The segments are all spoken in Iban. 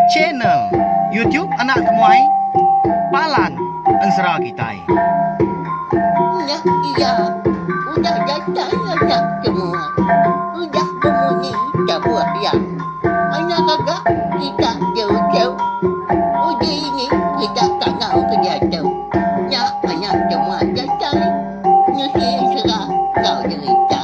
Channel YouTube Anak Temuai Palan Ensera Kitai. Udah iya, udah datai anak temuai, udah bemunyi tabuh iya. Anak gaga kita diuchau, uji ini kita tangau ke diatu. Nya anak temuai datai, nusi ensera enggau derita.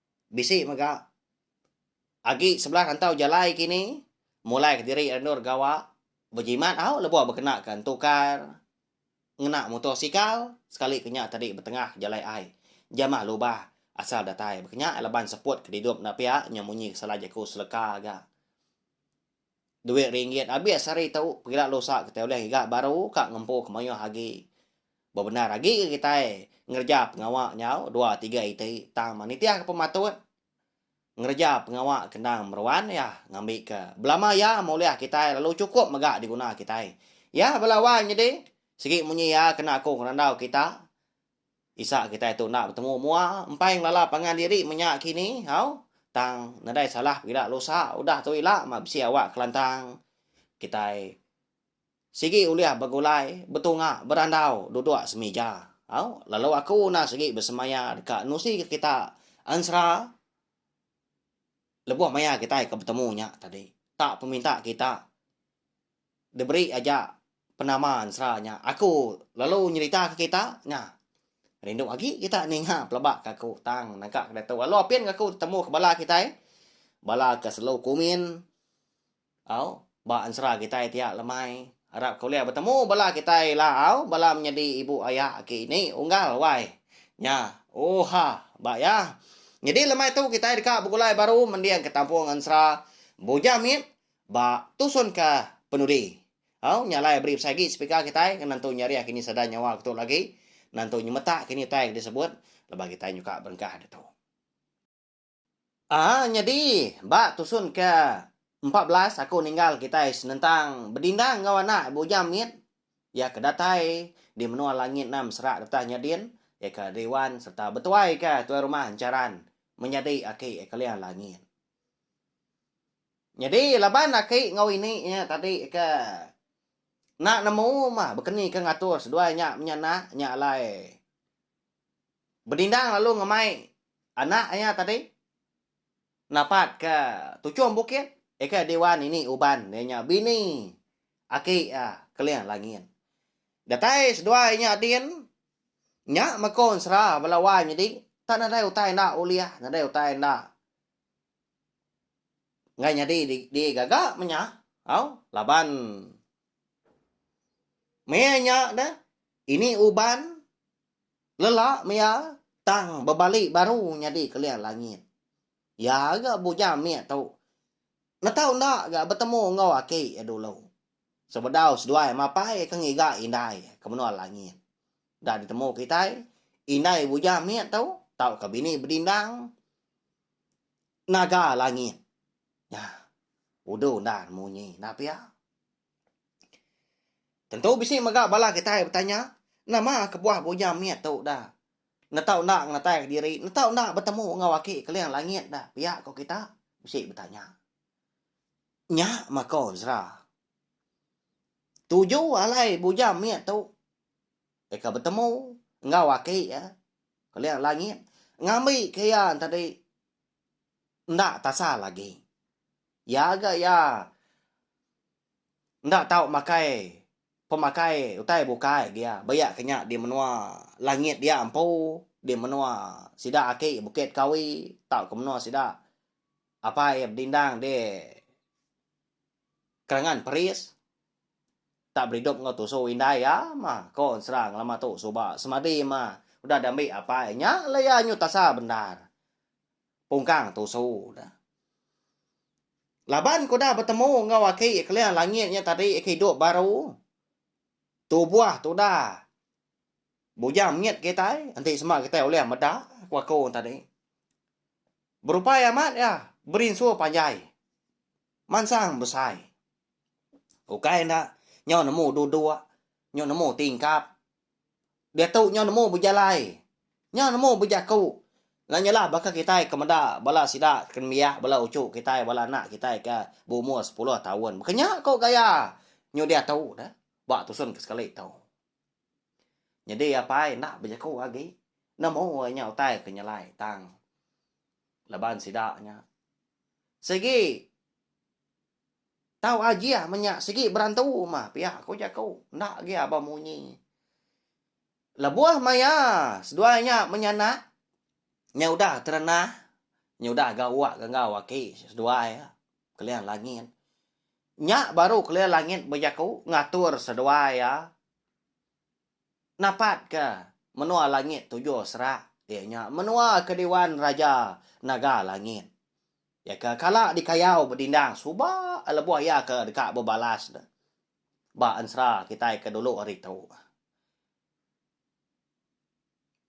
Bisi mega agi sebelah rantau jalai kini mulai kediri ira endur gawa bejimat tau lebuh bekena ke entukar ngena mutosikal sekali ke nya tadi betengah jalai ai jamah lubah asal datai. Baka nya laban seput kedidup enda pia nyau munyi ke sala jaku seleka ga. Duit ringgit abis hari tu pegila lusa kitai ulih giga baru ka ngempu ke mayuh agi. Bebendar agi ke kitai ngereja pengawa nyau dua tiga iti tang meh nitihka pematut ngereja pengawa ke endang meruan iya ngambika belama iya meh ulih kitai lalu chukup mega diguna kitai. Iya bala wang nyadi sigi munyi iya kena aku ngerandau kita. Isa kitai tu enda betemu mua empai ngelala pangan diri menya kini hau tang nadai salah pegila lusa udah tu ila mah bisi awak kelantang kitai sigi ulih begulai betunga berandau duduk semija hau lalu aku enda sigi besemaya deka nusi ke kita ensera lebuh maya kitai ke betemu nya tadi tak peminta kita diberi aja penama ensera nya aku lalu nyerita ke kita nya rindu agi kita ninga pelaba ke aku tang naka ke ditu lalu apin aku temu ke bala kitai bala ke selalu kumin au ba ensera kitai ti lemai arap ke ulih betemu bala kitai ila au bala menyadi ibu aya aki ini unggal wai nya oha ba iya nyadi lemai tu kitai deka begulai baru mending ke tampung ensera bujang mit Ba tusun ka penudi. Au nya alai beri besai agi speaker kitai ngena entu nyariah kini sada nyawa ketu lagi ngena entu nyemetak kini utai ke disebut lebuh kitai nyukak berengkah ditu. Aa nyadi ba tusun ke empat belas aku ninggal kitai senentang bedindang enggau anak bujang mit iya ke datai di menua langit enam serak getah nya din iya ke Riwan sereta betuai ka tuai rumah encharan menyadi aki Ekeliang Langit. Nyadi laban aki enggau ini nya tadi ke enda nemu mah bekeni ke ngatur seduai nya menya anak nya alai bedindang lalu ngemai anak iya tadi napat ke tuchung bukit ika di wan ini uban iya nya bini aki iya Keling Langin. Datai seduai nya adin nya meko ensera bala wan nyadi tak nadai utai enda ulih nadai utai enda. Enggai nyadi di gaga menya tau laban meh nya ne ini uban lela mia tang bebali baru nyadi keling langit. Iya ga bujang mih tu netau enda ga betemu enggau aki iya dulu sebedau seduai mapai ke ngiga indai ke menua langit. Enda ditemu kitai indai bujang mih tu tauka bini bedindang. naga langit. Nah, udah undang munyi nah pia. Tentu bisi mega bala kitai betanya, nama kebuah bunya mit tu da netau enda ngenatai kediri, netau enda betemu enggau aki keling langit da pia ko kita? bisi betanya. Nya mako Ezra. Tuju alai bunya mit tu. deka betemu enggau aki iya keling langit ngambika iya tadi enda tasal agi. Iya ga iya enda tau makai pemakai utai bukai agi iya ba iya ke nya di menua langit dia empu di menua sida aki Bukit Kawi tauka menua sida apai iya bedindang di kerengan peris tak beridup enggau tusu indai iya mah ko serang lama tu suba semadi mah udah diambi apai nya la iya nyu tasa bendar pungkang tusu da laban ko udah betemu enggau aki keling langit nya tadi aki idup baru tubuh tudah bujang mit kitai enti sema kitai ulih meda ko aku tadi berupai amat iya berinsu panjai. Mansang besai. Ukai enda nyau nemu duduk, nyau nemu tingkap. Diatu nyau nemu bejalai, nyau nemu bejaku. Nya nyalah baka kitai ke meda bala sida ke nembiak bala uchu kitai, bala anak kitai ke berumur sepuluh taun. Baka nya ko gaya nyau diatu ne ba tusun ke sekali tu. Nyadi apai enda bejaku agi nemu iya nya utai ke nyelai tang. Laban sida nya sigi tau ajih menya sigi berantu mah pia ku jaku enda agi aba munyi. Lebuh maya seduai nya menyanak nya udah terenah nya udah gawa ga enggau aki seduai Keling Langit. Nya baru Keling Langit bejaku ngatur seduai iya. napatka menua langit tujuh serak iya nya menua ke diwan Raja Naga Langit iya ke kala dikayau bedindang suba lebuh iya ke deka bebalas ne ba ensera kitai ke dulu hari tu.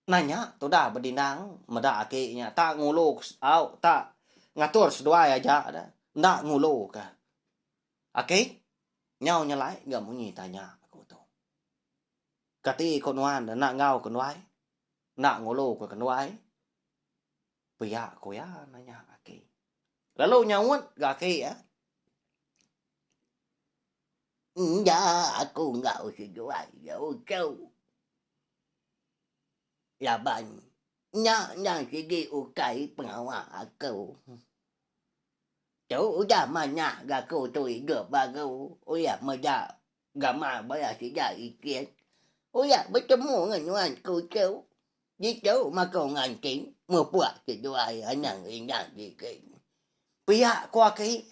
Nang nya tudah bedindang meda ati nya tak ngulu au tak ngatur seduai aja enda nguluka. Aki, nyau nyelai ga munyi tanya aku tu. Kati ko nuan enda enggau ke nduai? Enda ngulu ke nduai? Pia ko iya nanya aki. Lalu nyaut ga aki iya. Enda aku enggau seduai iya uchu. Laban nya enda sigi ukai pengawa aku. Tu udah manah gaku tu idup baru uyak meda gamal bala sida ikin. Uyak betemu ngan nuan ku tu. Ditu makau nganting mupuk seduai anang indang digit. Pia ku aki.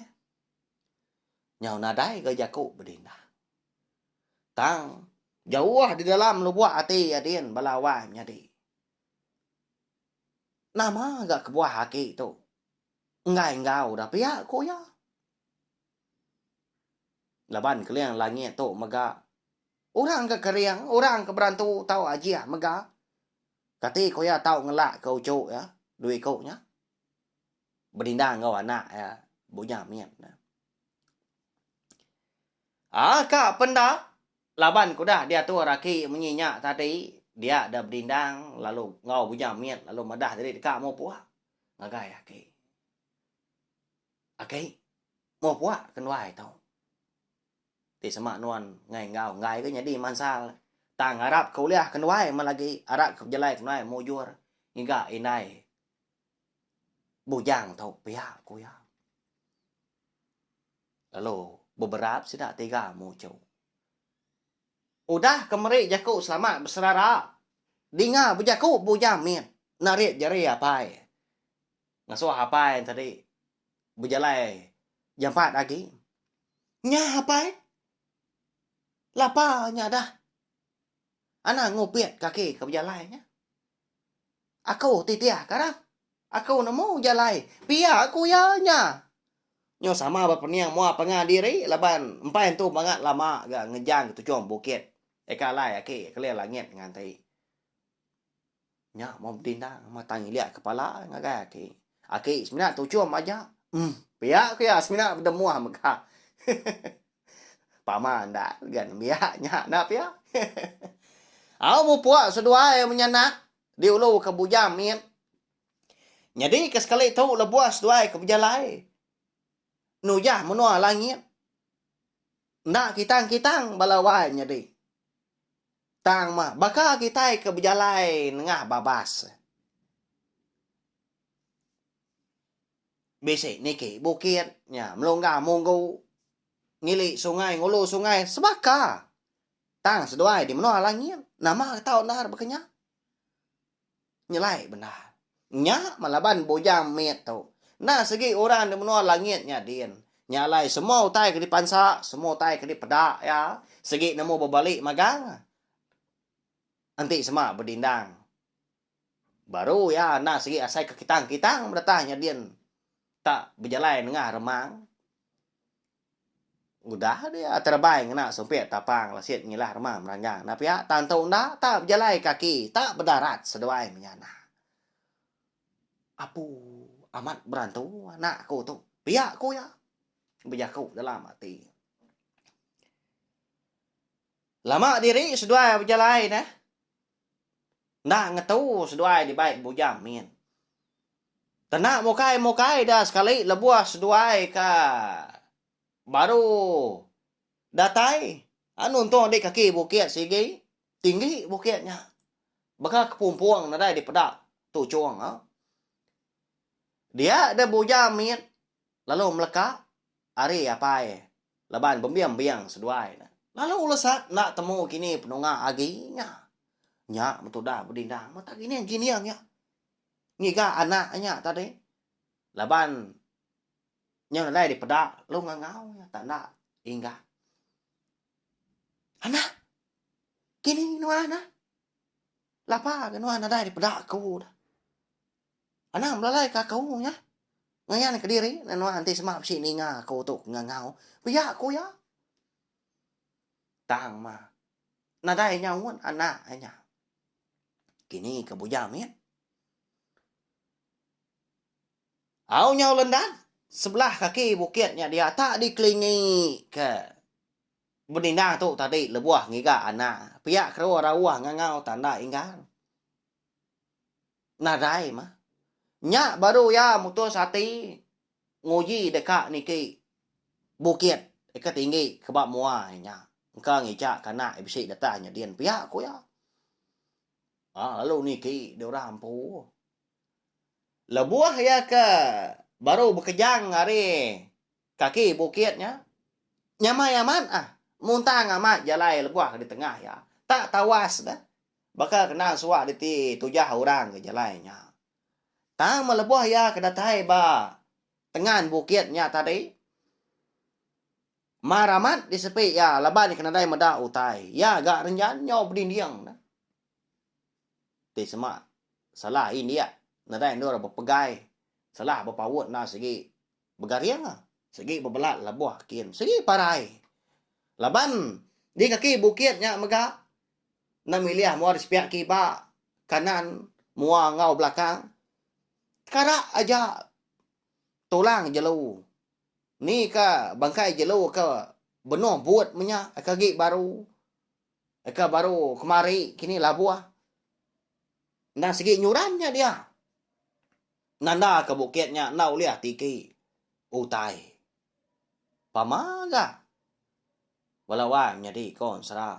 Nyau nadai ga jaku bedindang. Tang jauh di dalam lubuk ati adin bala wang nyadi. Nama ga kebuah aki tu. Enggai enggau dah pia, ku iya. Laban keling langit tu mega. Orang ke kering, orang ke berantu tau ajih mega. Kati ku iya tau ngelakka uchu iya, dua iku nya. Benindang enggau anak iya, Bunya mit. Aa ka penda, laban ke udah diatur aki menyi nya tadi, dia da benindang lalu enggau Bunya mit lalu madah diri deka mupuk. ngagai aki. Aki, moh pua ke nduai tu. Ti sema nuan ngai enggau enggai ke nyadi mansal ne. Tang arap ke ulih ke nduai meh lagi arap ke bejalai ke nduai mujur ngiga indai bujang tu pia ku iya. Lalu beberat sida tiga muchu. Udah ke meri jaku selamat beserara, dinga bejaku bujang mit narit jari apai. Ngasuh apai enti tadi bejalai jampat agi. Nya apai lapa nya dah anang ngupit kaki ke bejalai nya. Aku titih ka rang. Aku nemu ujar alai. Pia ku iya nya. Nyau sama ba pening mua pengah diri laban empai entu bangat lama ga ngejang ke tuchung bukit. Eka alai aki keling langit nganti. Nya mun betindang matang ilik kepala ngagai aki. Aki semina tuchung majak. Em. Pia ku iya semina bedemuh mega. Pama enda ga nembiak nya enda pia. Au mupuk seduai menyanak diulu ke bujang mit. Nyadi ke sekali tu lebuh seduai ke bejalai nujah menua langit. Enda kitang-kitang bala wai nyadi. Tang mah baka kitai ke bejalai nengah babas. Bisi niki bukit nya melungga munggu ngili sungai ngulu sungai sebaka tang seduai di menua langit nama ke tau endar baka nya nyelai bendar nya meh laban bujang mit tu enda segi orang di menua langit nya din nya alai semua utai ke dipansa semua utai ke dipeda iya segi nemu bebali magang enti sema bedindang Baru iya enda sigi asai ke kitang, kitang beratah nyadin tak bejalai nengah remang. Udah dia terebai ngena sumpit tapang lasit ngilah remang meranjang enda pia tang tu enda tak bejalai kaki tak bedarat seduai menyana. Apu amat berantu anak aku tu pia ku iya bejaku dalam ati. Lama diri seduai bejalai neh. Enda ngetu seduai dibai bujang min. Kena mukai-mukai da sekali lebuh seduai ka baru datai. Anu entung di kaki bukit sigi, tinggi bukit nya. Baka kepumpung nadai dipeda tu chong. Dia da bujang min. Lalu meleka ari apai laban bembiang-biang seduai ne. Lalu ulesat enda temu kini penunga agi nya. Nya betudah bedindang mata gining-gining iya ngiga anak nya tadi laban nyau nadai dipeda lalu ngangau iya tanda inggat. Anak, kini nuan ah? Lapa ga nuan nadai dipeda aku dah. Anang belalai ke aku nya. Ngayan kediri enda nuan enti sema bisi ninga aku tu ke ngangau. Pia ku iya. Tang mah. Nadai inya un anak inya. Kini ke bujang mit. Au nyau lendan sebelah kaki bukit nya dia tak dikelingi ke benindang tu tadi lebuh ngiga anak. Pia kerua rauh ngangau tanda inggar. Nadai mah. Nya baru iya mutus ati nguji deka niki bukit ke tinggi ke ba mua iya nya engka ngijaka anak iya bisi datang nyadin pia ku iya. Aa lalu niki deh orang empu. Lebuh iya ke baru bekejang ari. Kaki bukit nya nyamai amat ah, muntang amat jalai lebuh di tengah iya. Tak tawas dah baka kena suah diti tujah orang ke jalai nya. Tang meh lebuh iya ke datai ba tengan bukit nya tadi, mar amat di sepi iya laban ke nadai meda utai. Iya ga renjan nyau bedinding dah. Ti sema salah indik nadai endur bepegai, salah bepaut enda sigi. begaring sigi bebelat lebuh kin sigi parai laban di kaki bukit nya mega enda milih mua di sepiak kiba kanan mua enggau belakang kara aja tulang jelu ni ka bangkai jelu ka benung but menya ka agi baru ka baru kemari kini labuh enda sigi nyuran nya dia. Nanda ke bukit nya enda ulih tiki utai pama ga bala wang nyadi konsra.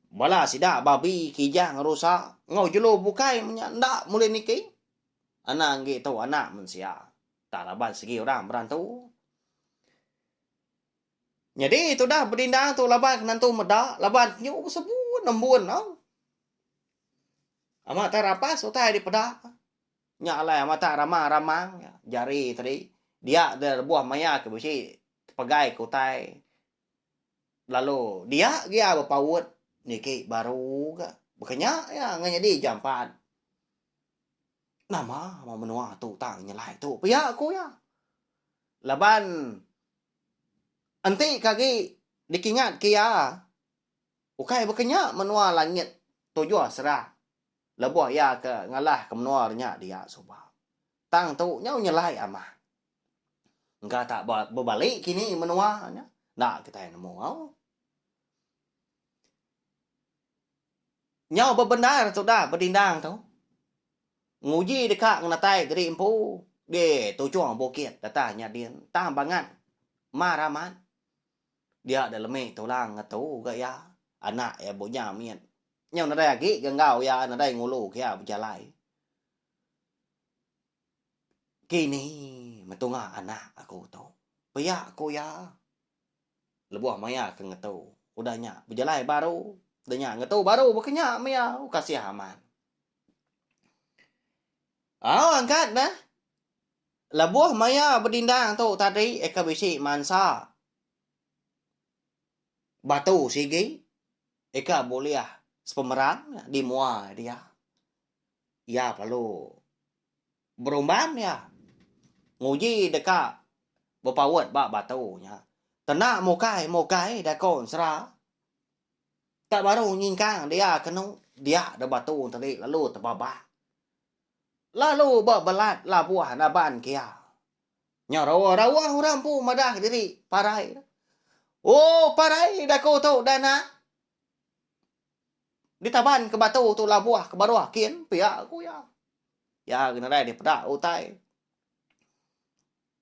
Bala sida babi kijang rusa enggau jelu bukai menya enda ulih niki anang agi tu anak mensia tang raban segi orang berantu. Nyadi tudah bedindang tu laban ke nentu meda laban penyu besebu nembun tau. Amat tai rapas utai dipeda. Nya alai amat tai ramang-ramang jari tadi. Dia dia lebuh maya ke bisi tepegai ke utai. Lalu dia gia bepaut niki baru ga. Bekenya iya ngan nyadi jampat. Nama ba menua tu tang nyelai tu pia ku iya. Laban enti ke agi dikingat ke iya. Ukai baka nya menua langit tujuh serang lebuh iya ke ngalahka menua renya dia suba. Tang tu nyau nyelai amat. Engka tak ba bebali kini menua nya enda kitai nemu au. Nyau bebendar tudah bedindang tu nguji deka ngenatai geri empu di tuchung bukit data nyadin tang bangat mar amat. Dia deh lemi tulang ngetu ga iya. Anak iya bu nya mit. Nyau nadai agi ga enggau iya nadai ngulu ga iya bejalai. Kini metunga anak aku tu. Pia ku iya lebuh maya ke ngetu. Udah nya bejalai baru. Udah nya ngetu baru baka nya meh iya. Kasih amat. Au angkat neh. Lebuh maya bedindang tu tadi eka bisi mansa batu sigi eka bulih sepemerang di mua dia. Iya perlu berumban iya nguji deka bepaut ba batu nya. Kena mukai mukai dako ensera tak baru nyingkang dia kenu dia da batu tadi lalu tebabak. lalu ba belat labuh naban kia. Nya rawa rawa orang empu madah diri parai. Oh parai daku tu dah nak ditaban ke batu tu labuh ke baruh kin pia ku iya. Iya nadai dipeda utai.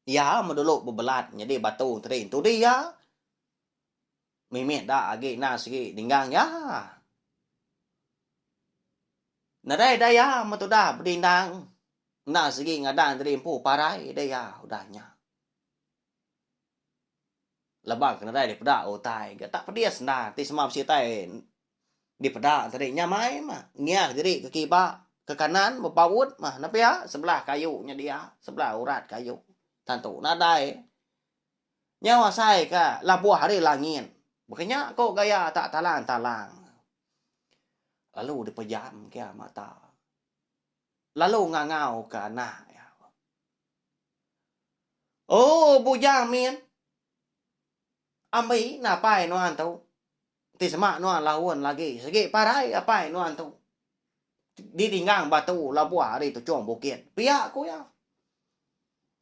Iya me dulu bebelat nyadi batu tadi. Tu dia. Mimit da agi enda sigi ninggang iya. Nadai da iya meh tudah bedindang enda sigi ngadang diri empu parai da iya udah nya. Laban ke nadai dipeda utai ke tak pedis enda ti sema bisi utai dipeda tadi nya mai meh ngiah diri ke kiba ke kanan bepaut meh nepia sebelah kayu nya dia sebelah urat kayu tantu nadai Nyau asai ka labuh ari langit. Baka nya ko gaya tak talang talang. Lalu di pejam ke iya mata. Lalu ngangau ka anak iya. Ooh bujang min. Ambi napai nuan tu. Enti sema nuan laun lagi sigi parai apai nuan tu di tinggang batu labuh ari tujung bukit pia ku iya.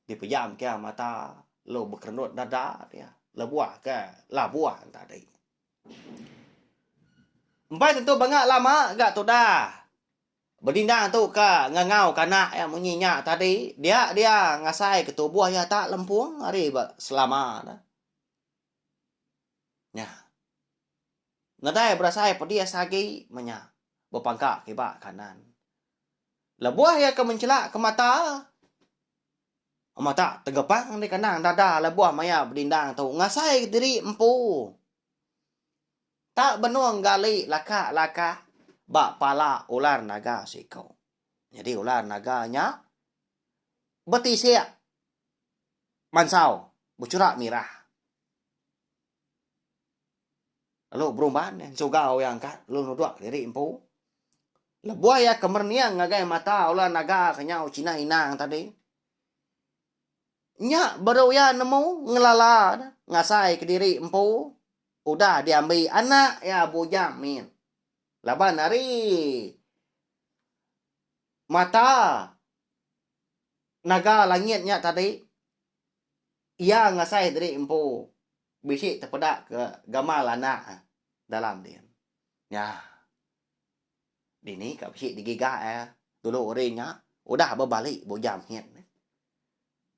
Dipejam ke mata lu bekerendut dada dia lebuh ke labuh tadi. Empai tentu banga lama ga tudah bedindang tu ke ngangau ke anak iya munyi nya tadi dia dia ngasai ke tubuh iya tak lempung ari ba selama ne. Nya. Ngedai berasai pedis agi menya. Bepangka kiba kanan. Lebuh iya ke mencela ke mata. Mata tegepang di kenang dada lebuh maya bedindang tu. Ngasai diri empu. Tak benung gali lakak-lakak ba pala ular naga siku. Nyadi ular naga nya betisik mansau bechurak mirah. Lalu berumban ensugau iya angkat lalu nuduk diri empu. Lebuh iya ke merening ngagai mata ulah naga ke nyau Chinah Inang tadi. Nya baru iya nemu ngelala ne ngasai kediri empu udah diambi anak iya Bujang Min. Laban ari mata. Naga langit nya tadi iya ngasai diri empu bisi tepeda ke gamal anak dalam din. Nya. Dini ka bisi digiga iya dulu hari nya udah bebali bujam nyin.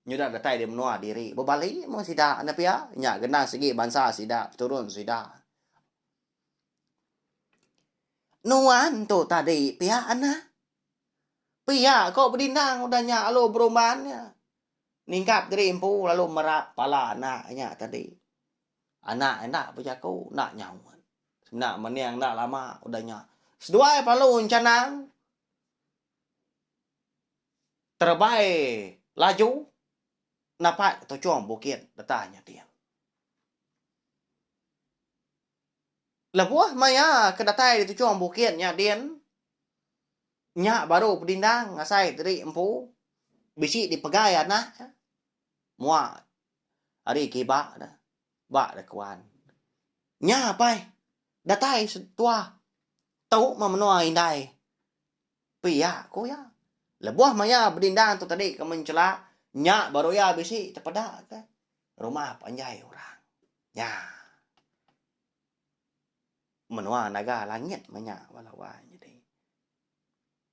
Nyudah datai di menua diri bebali mung sida ne pia nya genang sigi bansa sida peturun sida. Nuan tu tadi pia anang. Pia ko bedindang udah nya lalu berumban nya ningkap diri empu lalu merap pala anak nya tadi. Anak enda bejaku enda nyaut. Semina mening enda lama udah nya seduai pelalu encanang terebai laju napak tuchung bukit deta nyeting. Lebuh maya ke datai di tujung bukit nya din, nya baru pedindang asai diri empu bisi dipegai anak iya mua ari kiba ne ba rekuan. Nya apai datai setua tu meh menua indai pia ku iya. Lebuh maya bedindang tu tadi kemenchela nya baru iya bisi tepeda ke. Rumah panjai orang nya. Menua naga langit menya ba lawan nyadi.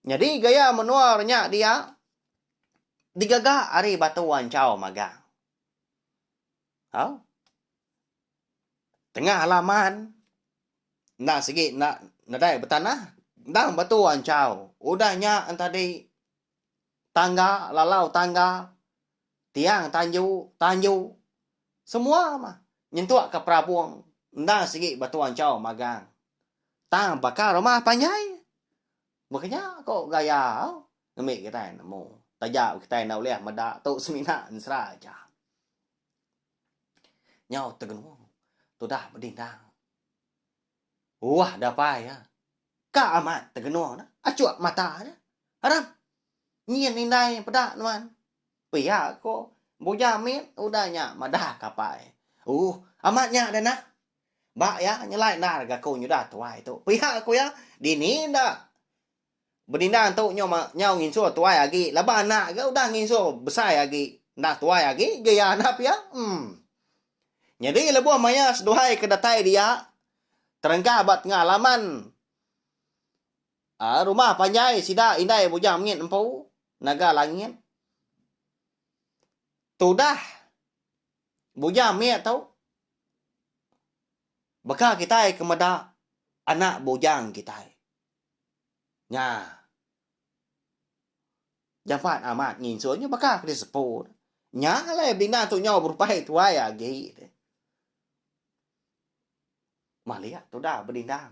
Nyadi gaya menua renya dia digaga ari batu anchau magang. Au. Tengah halaman enda sigi enda nadai betanah endang batu anchau. Udah nya entadi. tangga lalau tangga tiang tanju tanju semua mah nyentuk ka perabung endang sigi ba tuan chau magang tang baka rumah panjai meh ke nya ko gaya au ngemi kitai nemu taja kitai enda ulih meda tu semina ensera aja nyau tengenung tudah bedindang. Uah dapai iya. Ka amat tegenung dah. Achuk mata nya. Aram. Nyin indai peda nuan. Pia ko Buja mit udah nya madah ka apai. Ooh. Amat nya dah nah. Ba iya nyelai endar ga ko nyudah tuai tu. Pia ko iya. Dini enda. Benindang tu nyau nyau nginsur tuai agi laban anak ga udah nginsur besai agi enda tuai agi ga iya anak pia em. Nyadi lebuh maya seduai ke datai dia terengkah ba tengah laman a rumah panjai sida indai Bujang Mengit empu Naga Langit tudah Bujang Mengit tu baka kitai ke meda anak bujang kitai. Nya. Jampat amat nginsun nya baka ke disepu. Nya alai bina tu nyau berupai tuai agi. Malik tu dah bedindang.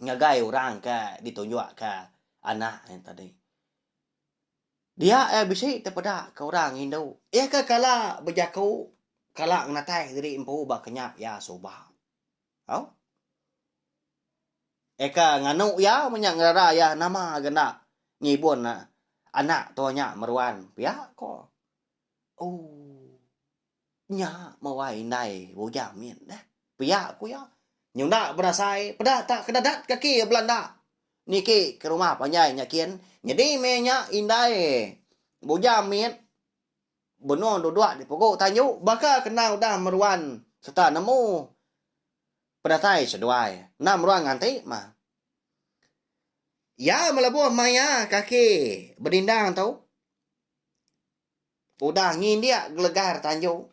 Ngagai orang ke ditunjuk ke anak nya tadi. Dia eh bisi te peda ke orang indu. Iya ke kala bejaku, kala ngenatai diri empu ba kenyap iya suba. Au. Eka nganu iya menya ngerara iya nama ga enda ngibun anak tua nya meruan pia ko. Ooh. Nya mawai indai bujang mit deh. Pia ku iya. Nyunda bedasai peda ta kedadat kaki iya belanda niki ke rumah panjai nya kin. Nyadi meh nya indai bujang mit. Benung duduk di pugu tanju baka kena udah meruan sereta nemu penatai seduai enda meruan nganti mah. Iya melebuh maya kaki bedindang tu udah ngindik gelegar tanju.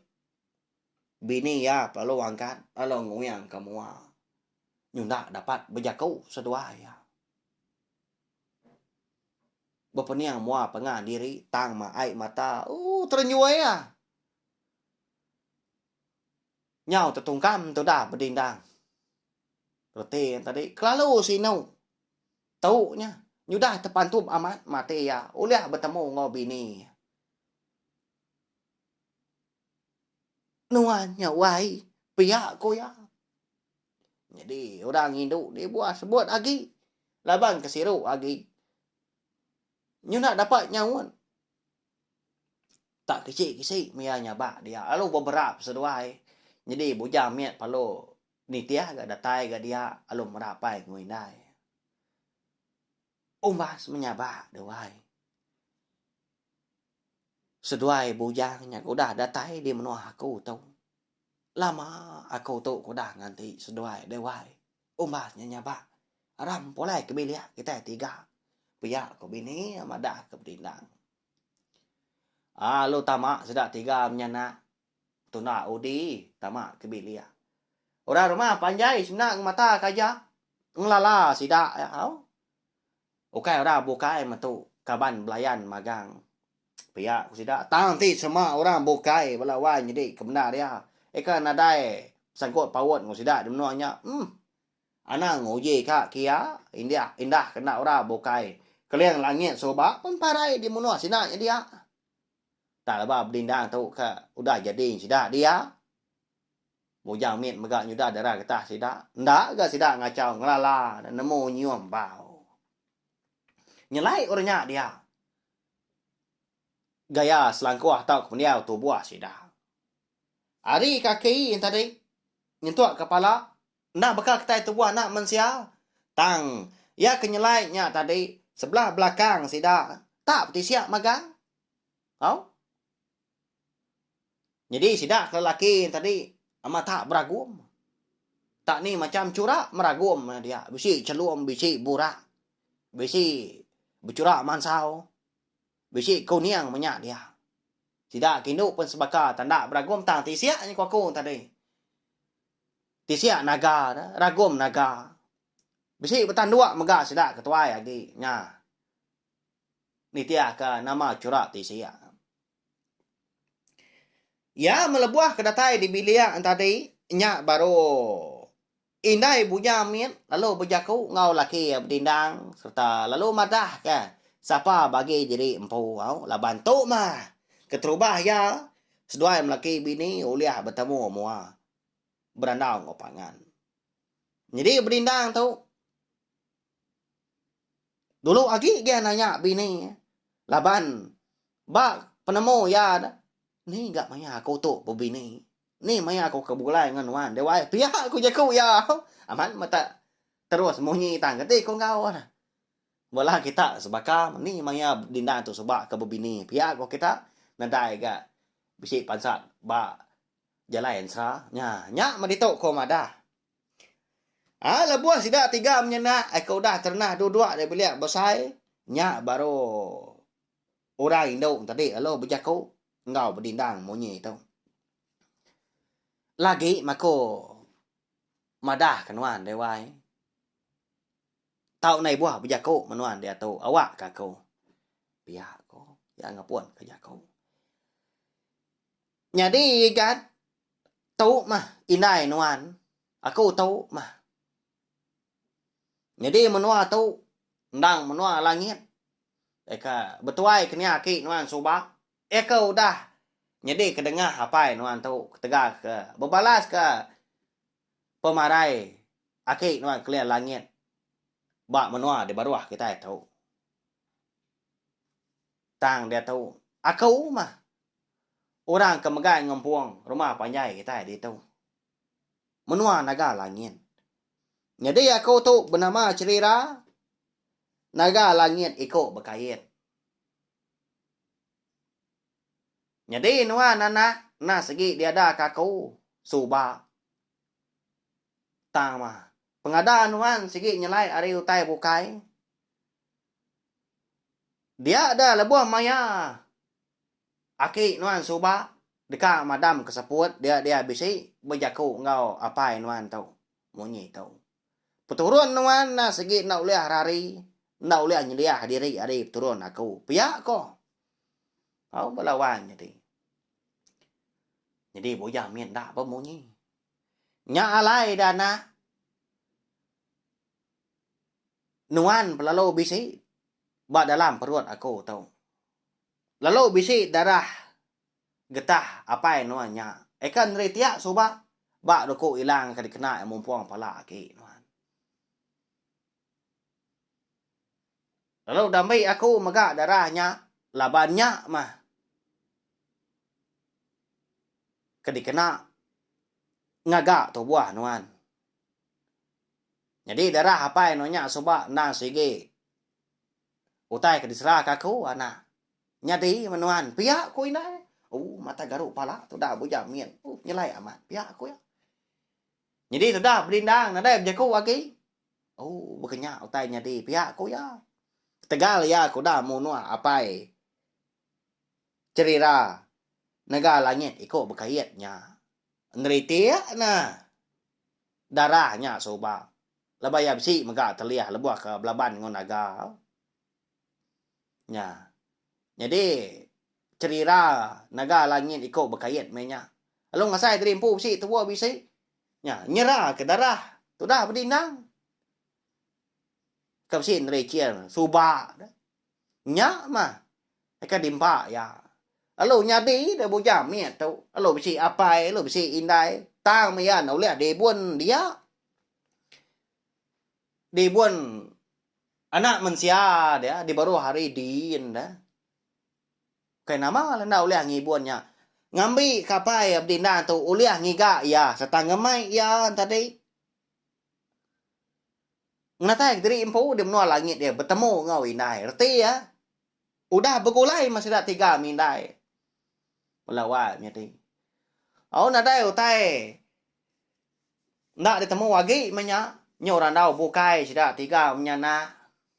Bini iya pelalu angkat lalu nguingka mua nyunda dapat bejaku seduai iya. Bepening mua pengah diri tang ma ai mata. Uh terenjoi ya. Nyau tetungkam tu dah bedindang. Reti tadi kelalu sinu. Tu nya nyudah tepantup amat mati ya ulih betemu enggau bini. Nuan nya wai pia ku iya. Nyadi orang indu ti buah sebut agi laban ke siru agi nyunak dapat nyaun. Tak kichi kisi meh iya nyabak dia lalu beberap seduai nyadi bujang mit perlu nitih ga datai ga dia lalu mera pai enggau indai. Umbas menyabak duai. Seduai bujang nya ke udah datai di menua aku tu. Lama aku tu ke udah nganti seduai deh wai. Umbas nya nyabak ra empulai ke bilik kitai tiga. Pia ku bini madahka bedindang. Alu tama sida tiga menyanak Tuna Udi tama ke bilik. Orang rumah panjai semina ngemata ke aja. Ngelala sida iya au. Ukai orang bukai metu kaban belayan magang pia ku sida. Tang ti sema orang bukai bala wai nyedi ke bendar iya. Ika nadai sangkut paut enggau sida di menua nya. Umm. Anang nguji ka ke iya india indah ke enda orang bukai keling langit suba pun parai di menua sida nya dia. Tang leba bedindang tu ka udah jadi sida dia. Mujang mit mega nyudah dara getah sida. Enda ga sida ngachau ngelala ne nemu nyium bau. Nyelai orang nya dia gaya selangkuh tauka pendiau tubuh sida. Ari kaki enti tadi nyentuk kepala. Enda baka kitai tubuh anak mensia, tang iya ke nyelai nya tadi sebelah belakang sida tak betisiak magang. Au. Nyadi sida ke lelaki nya tadi amat tak beragum. Tak ni macham chura meragum nya dia, bisi chelum, bisi burak, bisi bechura mansau, bisi kuning menya dia. Sida ke indu pun sebaka tanda beragum tang tisiak nya ku aku tadi. Tisia naga da ragum naga. Bisi betanduk mega sida ke tuai agi nya nitihka nama chura tisia. Iya melebuh ke datai di bilik tadi nya baru indai Bunya mit lalu bejaku enggau laki iya bedindang sereta lalu madahka sapa bagi diri empu au laban tu mah keterubah iya Seduai melaki bini ulih betemu mua berandau enggau pangan. Nyadi bedindang tu, dulu agi dia nanya bini laban ba penemu iya dah, Ni ga maya aku tu bebini? Ni maya aku ke begulai enggau nuan deh wai? Pia ku jaku iya. Amat metak terus munyi tang keti ku enggau. Mula kita sebaka meni maya dinda tu suba ke bebini pia ko kita nadai ga bisi pansat ba jalai ensra nya nya mah ditu ko madah. Ai lebuh sida tiga menyenak ai ke udah terenah dua dua ari bilik besai nya baru orang indu tadi lalu bejaku enggau bedindang munyi tu. Lagi mako madah ke nuan deh wai. Tau nai buah bejaku menuan diatu awak ka aku. Pia ko iya ngepun ka jaku. Nyadi igat tu mah indai nuan aku tu mah. Nyadi menua tu endang menua langit iya ka betuai ke nia aki nuan suba iya ka udah nyadi ke dengah apai nuan tu ketegal ke bebalas ka pemarai aki nuan kelia langit ba menua di baruh kitai tu. Tang diatu, aku mah orang ke megai ngempung rumah panjai kitai ditu. Menua naga langit. Nyadi aku tu benama Cherira, naga langit iku bekait. Nyadi nuan anak enda segi diadaka aku suba. Tang mah, pengada nuan sigi nyelai ari utai bukai. Dia da lebuh maya aki nuan suba deka madamka seput dia-dia bisi bejaku enggau apai nuan tu munyi tu. Peturun nuan enda sigi enda ulih ari hari, enda ulih nyeliah diri ari peturun aku, pia ko. Tau bala wai nyadi. Nyadi bujang mit enda pun munyi. Nya alai da anak nuan pelalu bisi ba dalam perut aku tu. Lalu bisi darah. Getah apai nuan nya. Eka neri tiak suba ba duku ilang ka dikena iya mumpung pala agi nuan. Lalu dambi aku mega darah nya laban nya mah ke dikena ngaga tubuh nuan. Nyadi darah apai nuan nya suba endang sigi. Utai ke diseraka aku, anak. Nyadi me nuan, pia ku indai. Ooh mata garu pala tuda bujang min. Ooh nyelai amat, pia ku iya. Nyadi tuda bedindang nadai bejaku agi. Ooh baka nya utai nyadi, pia ku iya. Ketegal iya ke udah munuh apai Cherira nega langit iku bekait nya. Ngeritik ne darah nya suba. Laban iya bisi mega telih lebuh ke belaban enggau naga nya. Nyadi cherira naga langit iko bekait meh nya. Lalu ngasai tadi empu bisi tubuh bisi nya nyera ke darah tudah bedindang. Ke bisi neri chair suba. Nya mah deka diempa iya. Lalu nyadi deh bujang mit tu, lalu bisi apai, lalu bisi indai, tang meh iya nulih dibun dia. Dibun anak mensia dia dibaruh ari din deh. Bukai nama lah enda ulih ngibun nya. Ngambi ke apai abdi endang tu ulih ngiga iya sereta ngemai iya tadi. Ngenatai kediri empu di menua langit iya betemu enggau indai. Reti iya, udah begulai meh sida tiga mih indai. Bela wai menyadi. Au nadai utai enda ditemu agi meh nya. Nyu randau bukai sida tiga meh nya nah.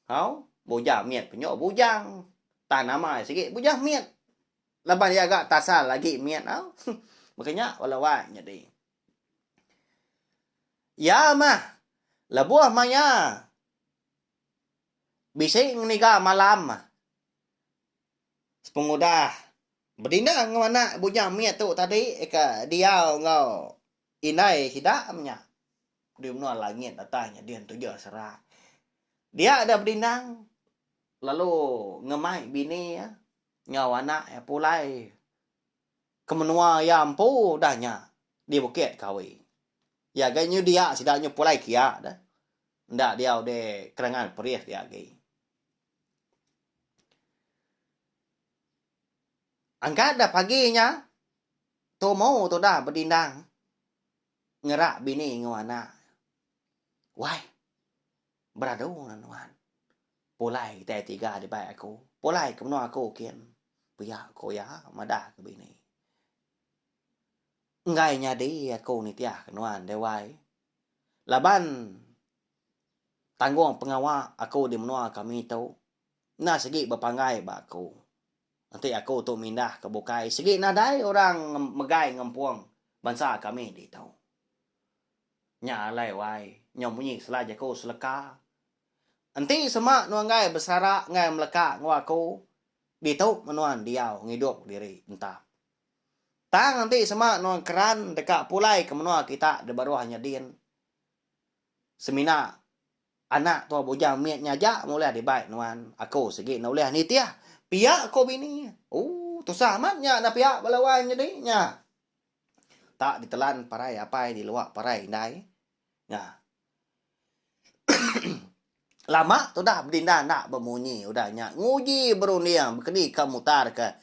Au, bujang mit pun nyu bujang. Tang nama iya sigi bujang mit. Laban iya ga tasal agi mit au. Baka nya bela wai nyadi. Iya meh lebuh maya bisi ngeniga malam sepengudah bedinding nganak bujang mit tu tadi ke diau enggau indai sida nya di menua langit datai nya din tujuh sera. Dia deh bedinding lalu ngemai bini iya enggau anak iya pulai. Ke menua iya empu udah nya di bukit Kawi. Iya agi nyedia sida nyepulai kia da enda diau di kerangan Perith dia agi. Angkat da pagi nya tumu tudah bedindang ngerak bini enggau anak. Wai. Beradu enggau nuan. Pulai kitai tiga dibai aku. Pulai ke menua aku kin. Pia ko iya madah ke bini. Enggai nyadi aku nitih ke nuan deh wai. Laban tanggung pengawa aku di menua kami tu enda sigi bepanggai ba aku. Enti aku tu mindah ke bukai sigi nadai orang megai ngempung bansa kami ditu. Nya alai wai, nyau munyi sela jaku seleka. Enti sema nuanggai besara enggai meleka enggau aku, ditu menuan diau ngidup diri entap. Tang enti sema nuan keran deka pulai ke menua kita di baruh nya din, semina anak tua bujang mit nya aja meh ulih dibai nuan, aku sigi enda ulih nitih, pia ku bini. Ooh, tusah amat nya enda pia bala wai nyadi nya. tak ditelan parai apai di luar parai indai nya. Lama tudah bedinda enda bemunyi udah nya nguji berunding bekedika mutarka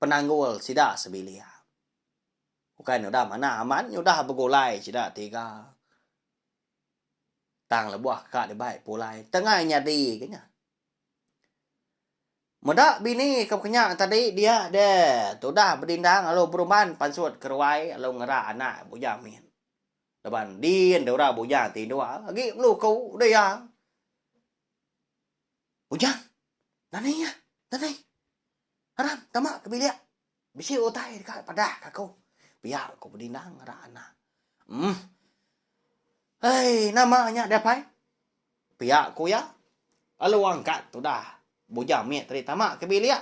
penanggul sida sebilik. Bukai nudah manah amat nyudah begulai sida tiga. Tang lebuh ka dibai pulai tengah nyadi ke nya. Meda bini ke bekenya tadi dia de tudah bedindang lalu beruban pansut keruai lalu ngera anak bujang min laban endin dau ra bujang ti indu agi melu ku dia bujang nani iya nani aram tama ke bilik. Bisi utai deka padahka aku. Pia ku Bedinang ngarak anak. Uhm. Ai, nama nya deh pai? Pia ku iya. Lalu angkat tudah Bujang mit tadi tama ke bilik.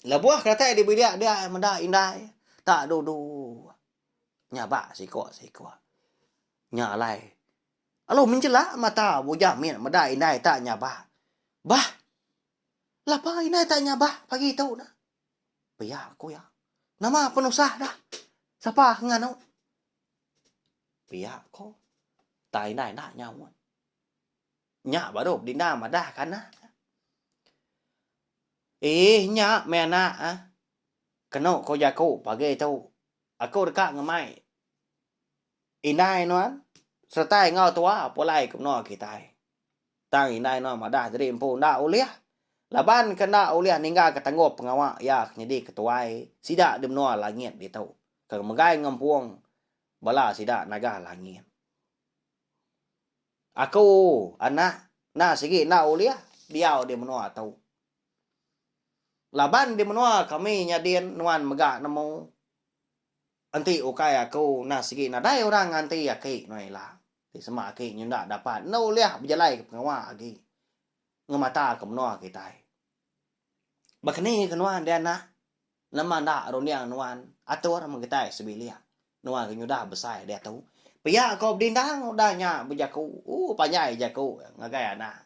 Lebuh ke datai di bilik dia meda indai tak dudu nyabak siko-siko. Nya alai. Lalu menjelak mata Bujang mit meda indai tak nyabak. Bah. Lapa indai tak nyabak pagi tu nah? Pia ku iya. Nama penusah dah? Sapa ke nganu? Pia ku. Tang indai enda nyaut. Nya baru bedinda madah ke anak. Eeh nya meh anak ah. Kenu ko jaku pagi tu. Aku deka ngemai indai nuan serta enggau tua pulai ke menua kitai. Tang indai no madah diri empu enda ulih laban ke enda ulih ninggalka tanggup pengawa iya ke nyadi ketuai sida di menua langit ditu ke megai ngempung bala sida naga langit. Aku, anak, enda sigi enda ulih diau di menua tu. Laban di menua kami nyadin nuan mega nemu. Enti ukai aku enda sigi nadai orang nganti aki nuan ila, ti sema aki nyenda dapat enda ulih bejalaika pengawa agi ngemataka menua kitai. Ba keni ke nuan dianak, nama enda runding nuan atur mung kitai sebilik nuan ke nyudah besai diatu. Pia ko bedindang udah nya bejaku, ooh panjai jaku ngagai anak.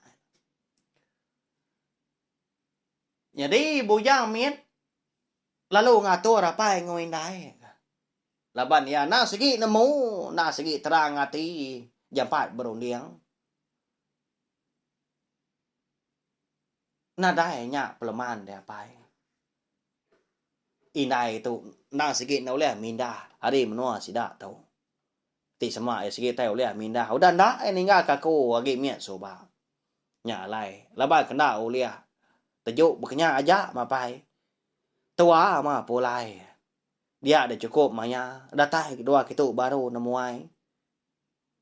Nyadi bujang mit. Lalu ngatur apai enggau indai ne. Laban iya enda sigi nemu, enda sigi terang ati jampat berunding. Nadai nya peleman deh apai. Indai tu enda sigi enda ulih mindah ari menua sida tu. Ti sema iya sekitai ulih mindah udah enda iya ninggalka aku agi mit suba. Nya alai laban ke enda ulih teju bekenya aja mapai. Tua ma pulai dia deh chukup maya datai kedua kitu baru nemuai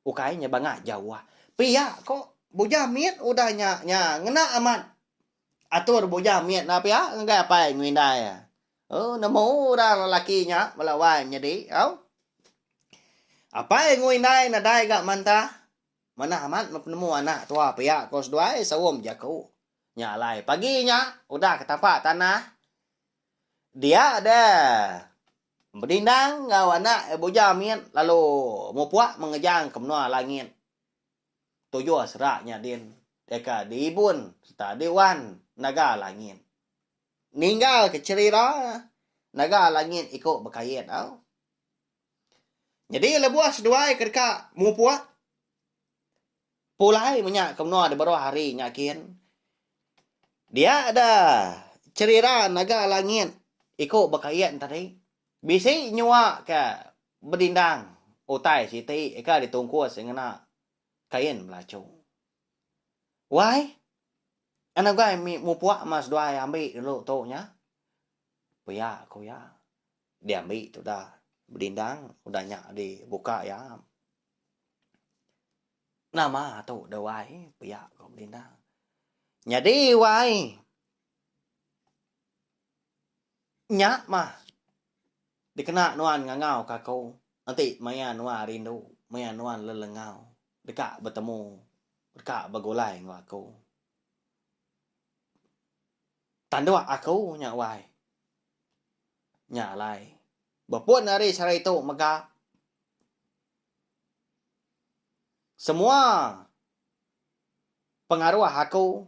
ukai nya bangah jauh. Pia ko bujang mit udah nya nya ngena amat atur bujang mit enda pia ngagai apai ngerindai. Au nemu orang lelaki nya bala wai menyadi au. Apai enggau indai nadai ga manta. Manah amat meh penemu anak tua pia ko seduai saum jaku. Nya alai pagi nya udah ke tapak tanah dia de bedindang enggau anak iya bujau mit lalu mupuk mengejang ke menua langit. Tujuh sera nya din deka diibun serta diwan naga langit. ninggalka cherira naga langit iku bekait tau. Nyadi lebuh seduai ke deka mupuk pulai menya ke menua de baruh hari nya kin dia da cherira naga langit iku bekait tadi bisi nyua ke bedindang utai siti ke ditungkus ngena kain belachu. Wai. Kan ugai mih mupuk mah seduai ambi dulu tu nya. Pia ku iya. Diambi tu udah bedindang, udah nya dibuka iya. Nama tu deh wai pia ku bedindang. Nyadi wai nya mah dikena nuan ngangau ka aku. Enti maya nuan rindu, maya nuan lelengau, Deka betemu, deka begulai enggau aku. Tanduk aku nya wai. Nya alai. Bepun ari sehari tu mega semua pengaruh aku,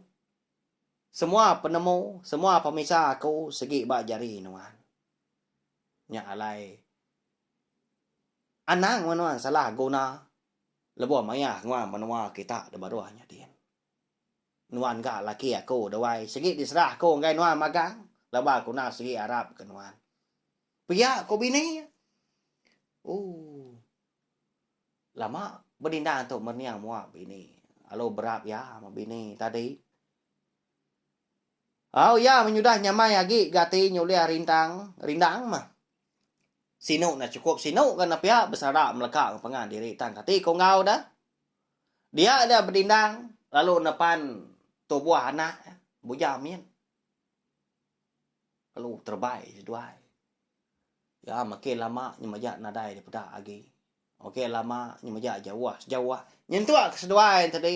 semua penemu, semua pemisa aku sigi ba jari nuan. Nya alai. Anang menuan salah guna. Lebuh maya nguang menua kita da baruh nyadin. Nuan ga laki aku dawai sigi diserah aku enggai nuan magang laban aku enda sigi arap ke nuan. Pia ku bini iya. Ooh. Lama benindang tu merening mua bini. Alu berap iya meh bini tadi. Au iya menyudah nyamai agi gati nya ulih rintang, rindang meh. Sinu enda chukup sinu ga nepia besara meleka ngepengan diri tang kati ko enggau da. Dia da bedindang lalu nepan tubuh anak iya bujang min. Lalu terebai seduai. Iya makin lama nyemaja nadai dipeda agi. Ok lama nya mejak jauh sejauh. Nyentuk keseduai enti tadi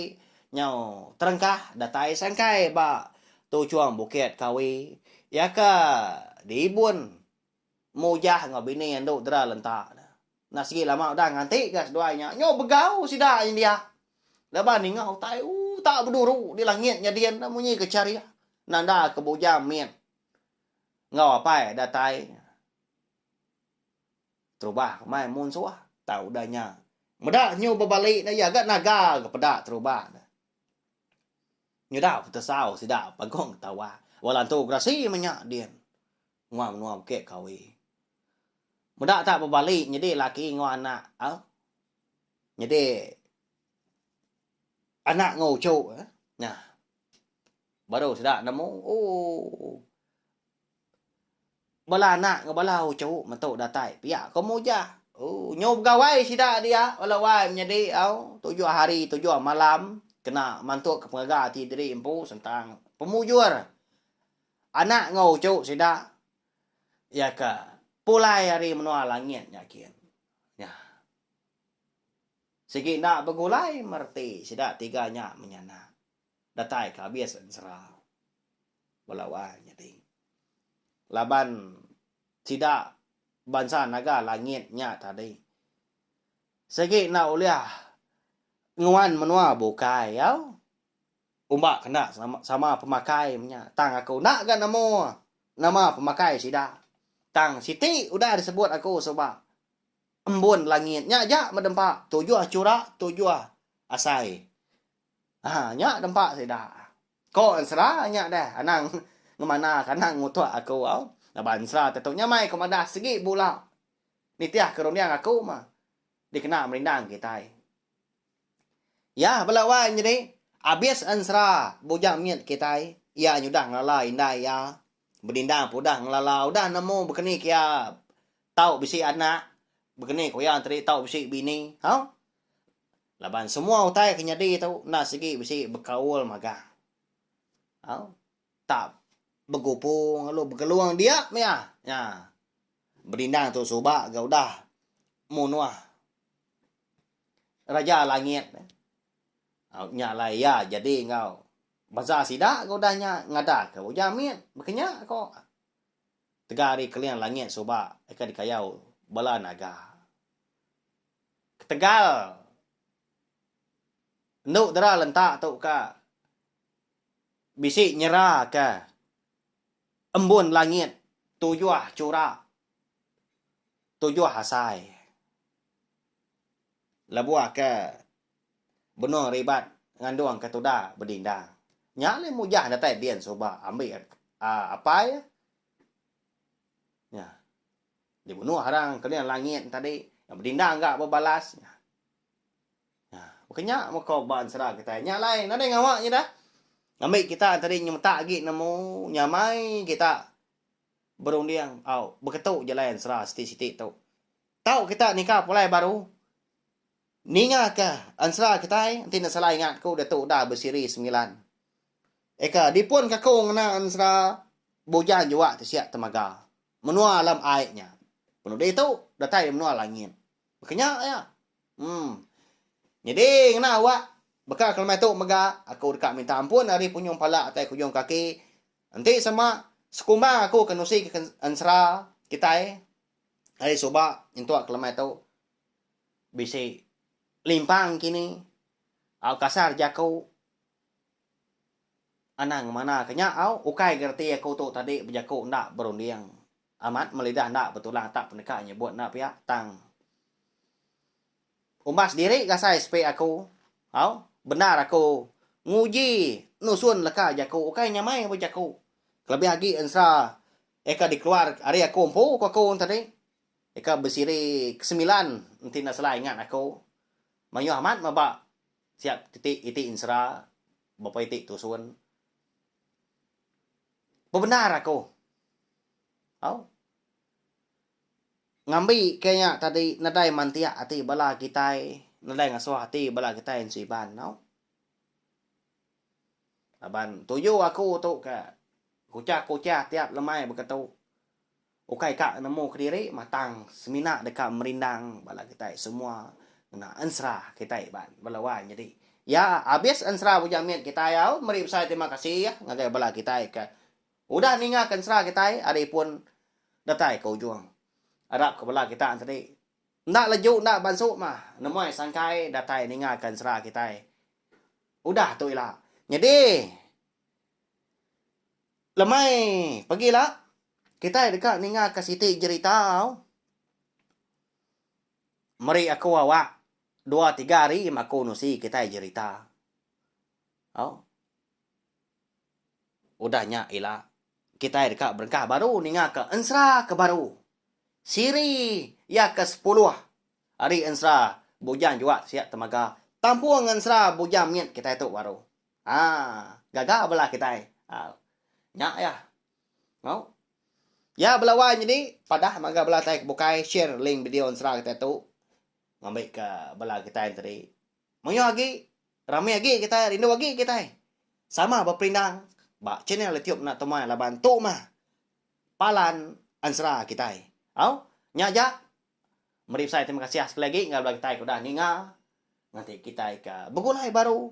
nyau terengkah datai sangkai ba tuchung bukit Kawi iya ke dibun Mujah enggau bini andu dera lenta ne. Enda sigi lama udah ngantika seduai nya nyau begau sida nyendia laban ninga utai utak beduru di langit nyadin ne munyi ke charik nanda ke bujang mit enggau apai datai. Terubah ke mai mun suah tau udah nya. Meda nyu bebali ne iya ga naga ga peda terubah ne. Nyedau petesau sida pagong ketawa. Ba lantu gerasi menya din ngua menua bukit kawi. Meda ta bebali nyedi laki enggau anak au nyedi anak enggau uchu nya baru sida nemu ooh. Bala anak enggau bala uchu metu datai pia ke mujah. Ooh nyu begawai sida dia bala wai menyadi au tujuh hari tujuh malam kena mantuk pengaga ati diri empu sentang pemujur anak enggau uchu sida iya ka pulai ari menua langit nya kin. Nyah. Sigi enda begulai me reti sida tiga nya menyanak datai ke abis ensera. belawa nyading. Laban sida bansa naga langit nya tadi sigi enda ulih nguan menua bukai au umba kena sama pemakai menya tang aku enda ga nemu nama pemakai sida tang siti udah disebut aku suba embun langit nya aja meh dempa tujuh chura tujuh asai ha nya dempa sida. Ko ensera nya deh anang ngemanaka anak ngutuk aku au. Laban ensera te tu nya mai ko madah segi bula nitih ke runding aku ma dikena merindang kitai. Yah bela wan nyadi abis ensera bujang mit kitai iya nyudah ngelala indai iya bedindang pe udah ngelala udah nemu bekeni ke iya tau bisi anak bekeni ko iya tadi tau bisi bini au. Laban semua utai ke nyadi tu enda sigi bisi bekaul magang. Au. Tak begupu lalu begelung dia mia. Nya. Bedindang tu suba ga udah munuh Raja Langit. Au nya alai iya jadi enggau beza sida ga udah nya ngadaka ujar mit bekenya ko tegal ari keling langit suba ka dikayau bala naga. ketegal endu dera lenta tu ka bisi nyera ka embun langit tujuh chura tujuh asai lebuh ka benung ribat ngandung ka tuda bedindang nya alai mujah datai din suba ambi apai nya. Dimunuh arang kening langit nya tadi. Iya bedindang ga bebalas. Nya. Baka nya meko ba ensera kitai. Nya alai nadai ngawa nyida. Ngambi kita tadi nyemetak agi nemu nyamai kita berunding au beketu jalai ensera siti-siti tu. Tau kita nika pulai baru ninga ke ensera kitai enti enda salah ingat ku diatu udah besiri semilan. Eka dipun ka ku ngena ensera Bujang Juak Tisiak Temaga. Menua alam ai nya. Penudi tu datai ari menua langit. Baka nya iya. Em. Nyadi ngena awak baka kelemai tu mega aku deka minta ampun ari punyung pala tai kujung kaki. Enti sema sekumbang aku ke nusi ke ensera kitai ari suba nyentuk kelemai tu bisi limpang kini au kasar jaku. Anang ngemanaka nya au ukai ga reti aku tu tadi bejaku enda berunding amat melidah enda betulang tak peneka nyebut enda pia tang umbas diri gasai sepi aku au bendar aku nguji nusun leka jaku ukai nyamai ba jaku kelebih agi ensera eka dikeluar ari aku empu ku aku tadi eka besiri ke semilan enti enda salah ingat aku mayuh amat meba Siap keti iti ensera bepa iti tusun. Bebendar aku. Au. Ngambi ke nya tadi nadai mantiak ati bala kitai, nadai ngasuh ati bala kitai ensu Iban tau. Laban tuju aku tu ka kuchah-kuchah tiap lemai beketu. Ukai ka nemu kediri matang semina deka merindang bala kitai semua ngena ensera kitai ba bala wai nyadi. Ya, abis ensera Bujang Mit kitai au meri besai terima kasih ngagai bala kitai ke udah ninga ke ensera kitai ari pun datai ke ujung. Arap ke bala kita entadi enda leju enda bansu mah nemuai sangkai datai ninga ke ensera kitai udah tu ila. Nyadi. Lemai pagi la, kitai deka ningaka siti jerita au. Meri aku awak dua tiga hari ma aku nusi kitai jerita. Au. Udah nya ila, kitai deka berengkah baru ningaka ensera ke baru. Siri iya ke sepuluh ari ensera Bujang Juat Siak Temaga tampung ensera Bujang Mit kitai tu baru. Haa gaga bela kitai au. Nya ya. Au. Ya bela wai nyadi padah mega bela kitai ke bukai share link video ensera kitai tu ngambi ke bela kitai enti tadi. Moyoh agi rami agi kitai rindu agi kitai sama beperindang ba channel YouTube enda temuai laban tu mah palan ensera kitai. Au. Nya aja. Meri besai terima kasih sekali agi ngagai bela kitai ke udah ninga nganti kitai ke begulai baru.